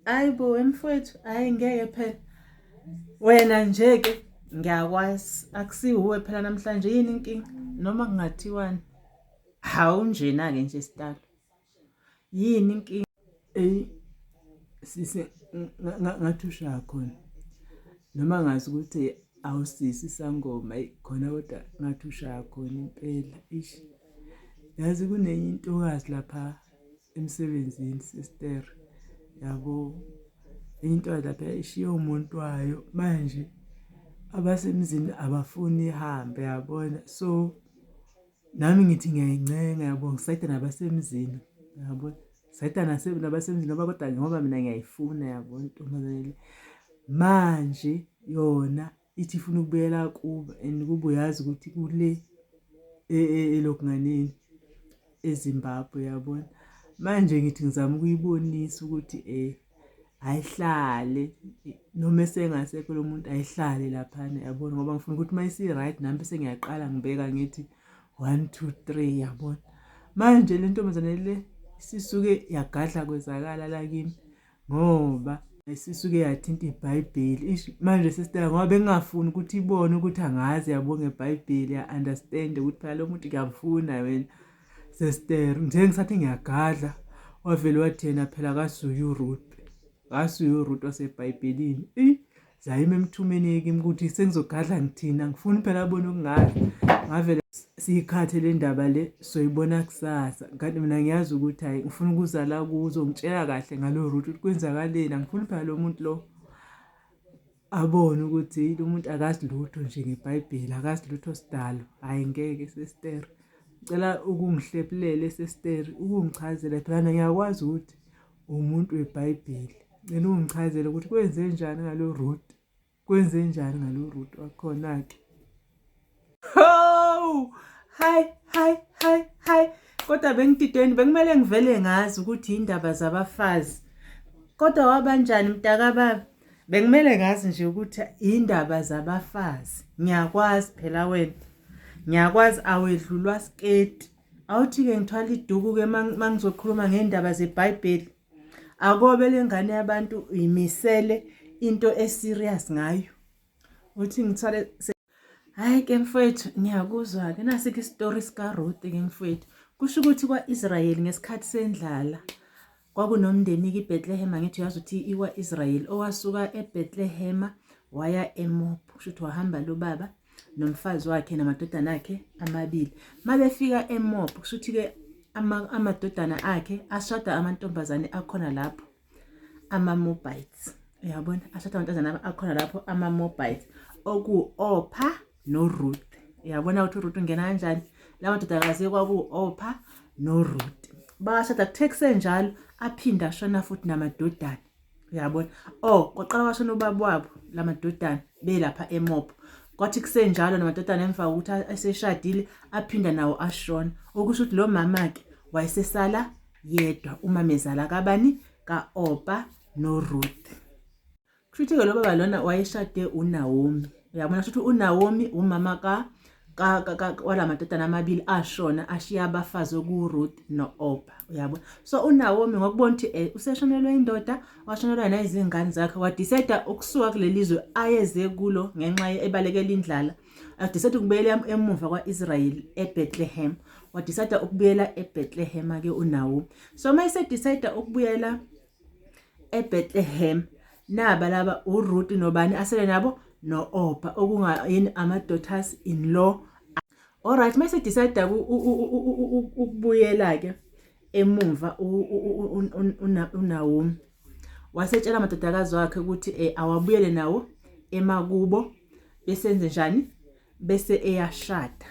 Hayi bo wemfowethu, hayi ngeke phela. Wena nje ke ngiyakwazi akusiwuwe phela namhlanje yini inkinga noma kungathiwani. Hawu njena ke nje sitalo. Yini inkinga? Ey sise ngathi ushaya khona. Noma ngazi ukuthi awusisi sangoma khona kodwa ngathi ushaya khona impela. Ish. Yazi kunenye intokazi lapha emsebenzini sister yabo into lapha ishiye umuntu wayo manje abasemzini abafuni ihambe yabona so nami ngithi ngiyayincenga yabo ngisayida nabasemzini yabo sayida nabasemzini ngoba kodwa ngoba mina ngiyayifuna yabo ntombazane manje yona ithi ifuna ukubuyela kubo and kube uyazi ukuthi kule e, e, elokunganeni ezimbabwe yabona manje ngithi ngizama ukuyibonisa ukuthi um ayihlale noma esengasekho lo muntu ayihlale laphana yabona ngoba ngifuna ukuthi uma isi-right nami bese ngiyaqala ngibeka ngithi one two three yabona manje le ntombazane le sisuke yagadla kwezakala lakimi ngoba sisuke yathinta ibhayibheli ish manje sister ngoba bengingafuni ukuthi ibone ukuthi angazi yabo ngebhayibheli ya-understand ukuthi phela lo muntu ngiyamfuna wena sister nje ngisathi ngiyagadla wavele wathi yena phela kasuye uruth kasuye uruth wasebhayibhelini eyi zayima emthumeni-ke ukuthi sengizogadla ngithini angifuni phela abone okungazi ngavele siyikhathe le ndaba le soyibona kusasa kanti mina ngiyazi ukuthi hhayi ngifuna ukuzala kuzo ngitshela kahle ngalo route ukuthi kwenzakaleni angifuni phela lo muntu lo abone ukuthi lo muntu akazi lutho nje ngebhayibheli akazi lutho sidalo hhayi ngeke sestere ngicela ukungihlephulele sestere ukungichazela phela ngiyakwazi ukuthi umuntu webhayibheli ngicela ungichazele ukuthi kwenze njani ngalo root kwenze njani ngalo root wakhona-ke hawu hayi hayi hayi hayi kodwa bengididweni bekumele ngivele ngazi ukuthi yindaba zabafazi kodwa wabanjani mntakababa bekumele ngazi nje ukuthi yindaba zabafazi ngiyakwazi phela wena ngiyakwazi awedlulwa siketi awuthi-ke ngithwala iduku-ke uma ngizokhuluma ngey'ndaba zebhayibheli akobe le ngane yabantu yimisele into eserious ngayo uthi ngithwale hhayi ke mfowethu ngiyakuzwa-ke nasikho isitori sikaruti-ke mfowethu kusho ukuthi kwa-israyeli ngesikhathi sendlala Kwakunomndeni kiBetlehema ngithi uyazi ukuthi iwa Israel owasuka eBetlehema waya eMob kusho ukuthi wahamba lo baba nomfazi wakhe namadodana akhe amabili mabefika eMob kusho ukuthi ke amadodana akhe ashada amantombazane akhona lapho amaMobites uyabona ashada amantombazane akhona lapho amaMobites oku Opha noruth uyabona ukuthi uruth ungena kanjani la madodakazi kwaku-opha noruth bashada kuthe kusenjalo aphinde ashona futhi namadodana uyabona o oh, kwaqala kwashona ubaba wabo la madodana belapha emobho kwathi kusenjalo namadodana emva kokuthi eseshadile aphinda nawo ashona okusho ukuthi lo mama-ke wayesesala yedwa umamezala kabani ka-opa noruth Kushuthi ke lo baba lona wayeshade uNaomi. Uyabona shuthi uNaomi umama ka kwalamadodana amabili ashona ashiya abafazi okuRuth no-Opa uyabo so uNawomi ngokubona ukuthi eh, useshonelwe indoda washonelwa nezingane zakhe wadisayida ukusuka kuleli zwe ayeze kulo ngenxa ebalekela indlala adisayida ukubuyela emuva kwa-israyeli ebethlehem wadisayida ukubuyela ebethlehem-ke unawomi so uma esedisayida ukubuyela eBethlehem naba laba uRuth nobani asele nabo no-Opa okungayini ama-daughters in law alright mase decide ukubuyela ke emumva uNaomi wasetshela amadodakazi wakhe ukuthi eh, awabuyele nawo emakubo besenze njani bese eyashada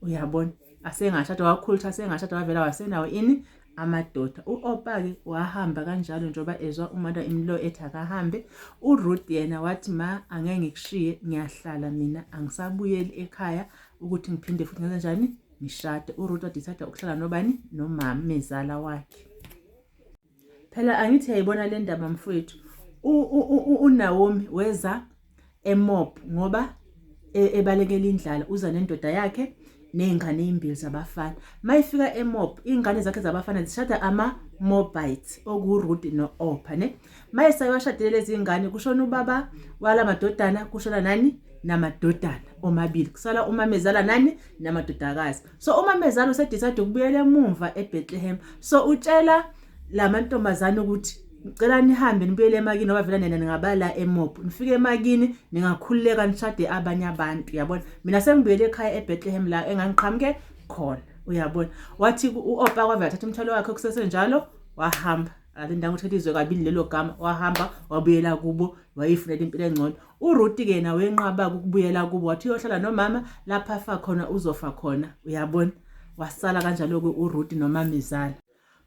uyabona asengashada wakhulutha asengashada wavela wasenawo ini amadoda u-opa-ke wahamba kanjalo njengoba ezwa umata imlo ethi akahambe uruth yena wathi ma angeke ngikushiye ngiyahlala mina angisabuyeli ekhaya ukuthi ngiphinde futhi ngenza njani ngishade uruth wadecide ukuhlala nobani nomama mezala wakhe Phela angithi yayibona le ndaba mfowethu. UNaomi weza eMob ngoba e, ebalekela indlala uza nendoda yakhe nezingane ezimbili zabafana. Mayifika eMob izingane zakhe zabafana zishada ama Mobites okuRuth no-Opha ne. Mayesaye washadile lezi ngane kushona ubaba wala madodana kushona nani namadodana omabili kusala umamezala nani namadodakazi so umamezala usedecide ukubuyela emumva ebethlehem so utshela la mantombazane ukuthi ngicela nihambe nibuyele emakini ngoba vele nena ningabala emob nifike emakini ningakhululeka nishade abanye abantu uyabona mina sengibuyele ekhaya ebethlehem la engangiqhamuke khona uyabona wathi u-opa kwavele athatha umthwalo wakhe kusesenjalo wahamba alindanga ukuthi elizwe kabili lelo gama wahamba wabuyela kubo wayifunela impilo engcono uRuti ke yena wenqaba ukubuyela kubo wathi uyohlala nomama lapha afa khona uzofa khona uyabona wasala kanjalo-ke uRuti nomamezala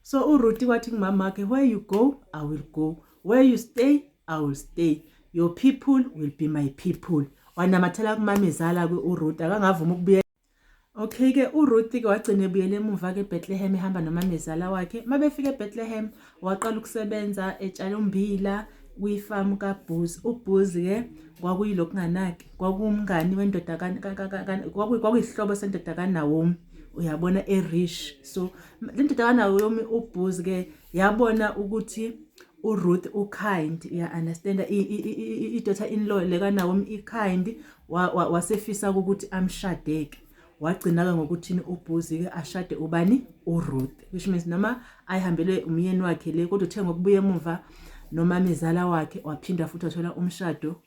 so uRuti wathi kumama wakhe where you go i will go where you stay i will stay your people will be my people wanamathela kumamezala-ke uRuti akangavuma ukubuyela Okay-ke uRuthi-ke wagcina ebuyela emuva-ke eBethlehem ehamba nomamezala wakhe. Uma befika eBethlehem, waqala ukusebenza etshala ummbila kwifamu kaBooz. UBooz-ke kwakuyilo kunganaki, kwakuwumngani wendoda kwakuyisihlobo sendoda kaNawomi, uyabona erish. So le ndoda kaNawomi uBooz-ke yabona ukuthi uRuth ukind, uya-understand-a idota in law le kaNawomi ikind, wasefisa ukuthi amshadeke wagcina-ke ngokuthini ubhuzi-ke ashade ubani uruth which means noma ayihambele umyeni wakhe le kodwa uthe ngokubuya emuva nomamezala wakhe waphinda futhi wathola umshado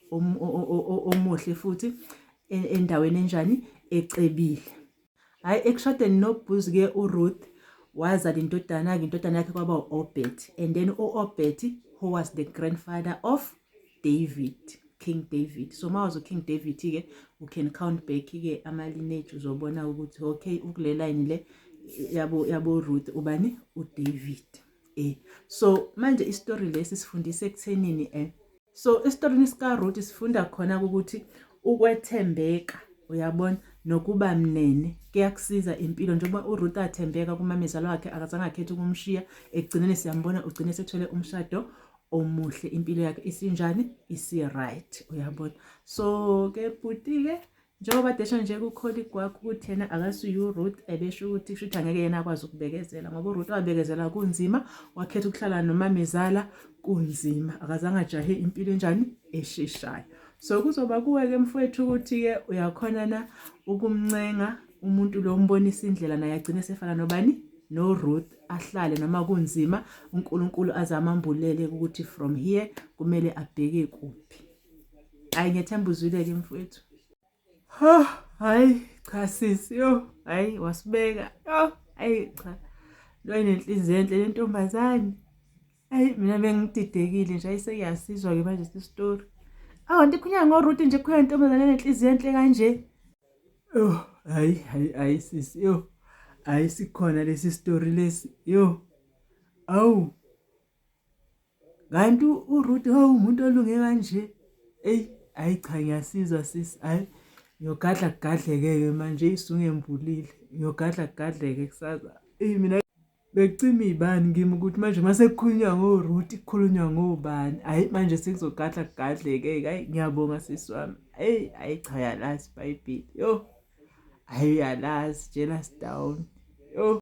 omuhle futhi e, endaweni enjani ecebile hayi ekushadeni nobuz ke uruth wazala indodana ke indodana yakhe kwaba u-obed and then u-obed who was the grandfather of david king david so uma wazi uking david ke u can count back ke ama-lineage uzobona ukuthi okay ukulelayini le yabo yabo ruth ubani udavid Eh, so manje isitori lesi sifundisa ekuthenini eh so esitorini sikaRuth sifunda khona ukuthi ukwethembeka uyabona nokuba mnene kuyakusiza impilo njengoba uRuth athembeka kumamezala wakhe akazange akhethe ukumshiya ekugcineni siyambona ugcine sethole umshado omuhle impilo yakhe isinjani isi-right uyabona so ke bhuti-ke njengoba desho nje kukholi kwakho ukuthi yena akasuye uruth ebesho ukuthi kusho ukuthi angeke yena akwazi ukubekezela ngoba uruth wabekezela kunzima wakhetha ukuhlala nomamezala kunzima akazange ajahe impilo enjani esheshayo so kuzoba kuwe-ke mfowethu ukuthi-ke uyakhona na ukumncenga umuntu lo umbonisa indlela naye agcine esefana nobani noRuth ahlale noma kunzima uNkulunkulu azamambulele ukuthi from here kumele abheke kuphi hayi ngethemba uzwile-ke mfowethu ho hayi cha sisi yo hayi wasibeka yo hayi cha lo inenhliziyo enhle le ntombazane hayi mina bengididekile nje ayiseyasizwa-ke manje sisitori awanti khunyana ngoruti nje khona ntombazane enenhliziyo enhle kanje yo hayi hayi hayi sisi yo hayi sikhona lesi sitori lesi yo awu kanti uRuth hawu umuntu olunge kanje eyi hayi cha ngiyasizwa sisi hayi ngiyogadla kugadleke-ke manje isungembulile ngiyogadla kugadleke kusaza eyi mina bekucima iy'bani kimi ukuthi manje uma sekukhulunywa ngoRuth kukhulunywa ngobani hhayi manje sekuzogadla kugadleke hhayi ngiyabonga sisi wami eyi hhayi cha yalazi ibhayibheli yo hhayi uyalazi jealous down yo